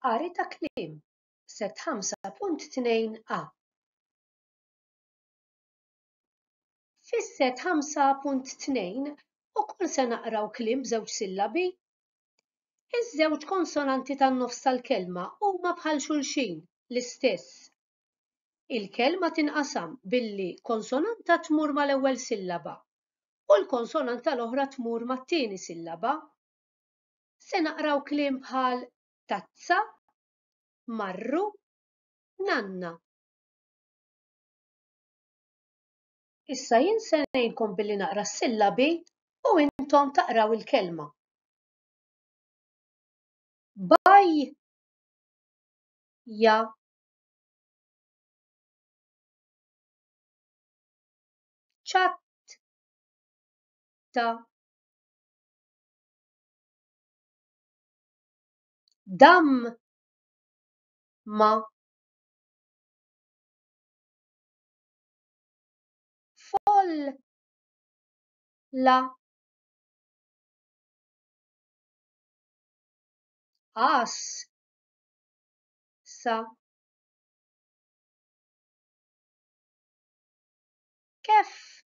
Qari ta' kliem, Sett 5.2 a. Fis-Sett 5.2 ukoll se naqraw kliem b'żewġ sillabi. Iż-żewġ konsonanti tan-nofs tal-kelma huma bħal xulxin, l-istess. Il-kelma tinqasam billi konsonanta tmur mal-ewwel sillaba u l-konsonanta l-oħra tmur mat-tieni sillaba. se naqraw kliem bħal tazza, marru, nanna. Issa jien se ngħinkom billi naqra s-sillabi u intom taqraw il-kelma. Baj ja ċat ta Dam ma folla as sa kif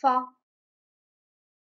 fa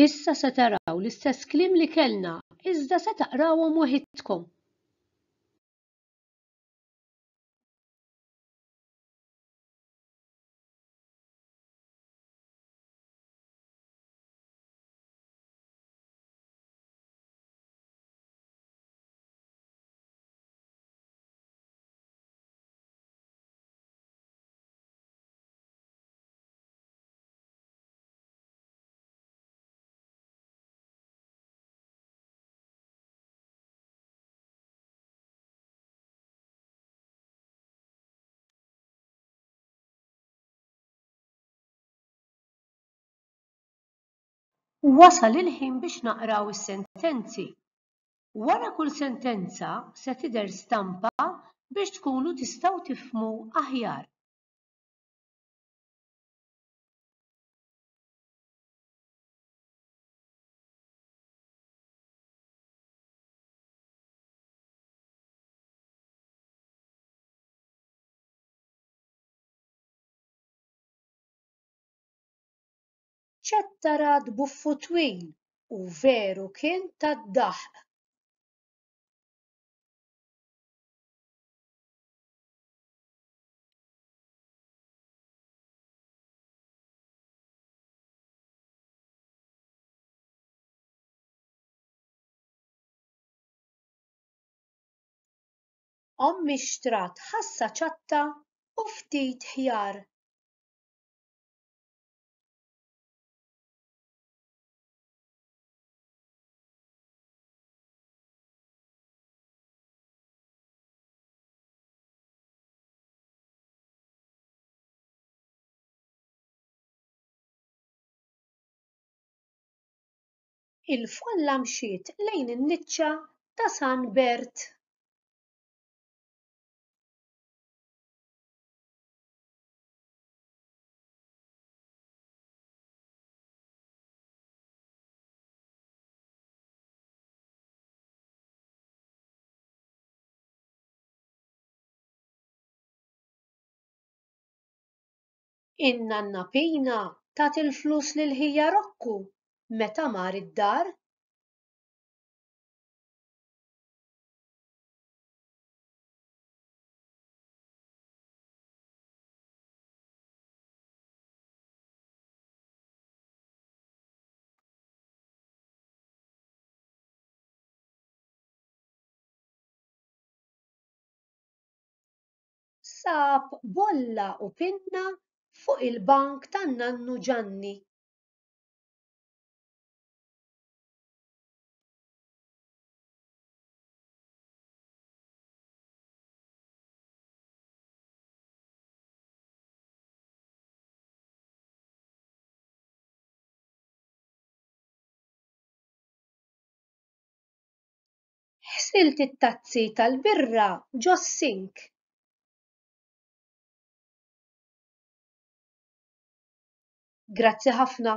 Issa se taraw l-istess kliem li kellna, iżda se taqrawhom waħidkom. Wasal il-ħin biex naqraw is-sentenzi. Wara kull sentenza se tidher stampa biex tkunu tistgħu tifhmu aħjar. ċattarat buffu twil u veru kien tad-daħq. Ommi xtrat ħassa ċatta u ftit ħjar. Il-folla mxiet lejn in-niċċa ta' San Bert. In-nanna Pina tat il-flus lil ħija Rokku meta mar id-dar. sab bolla u pinna fuq il-bank tan-nannu Ġanni. Ħsilt it-tazzi tal-birra ġos-sink. Grazzi ħafna.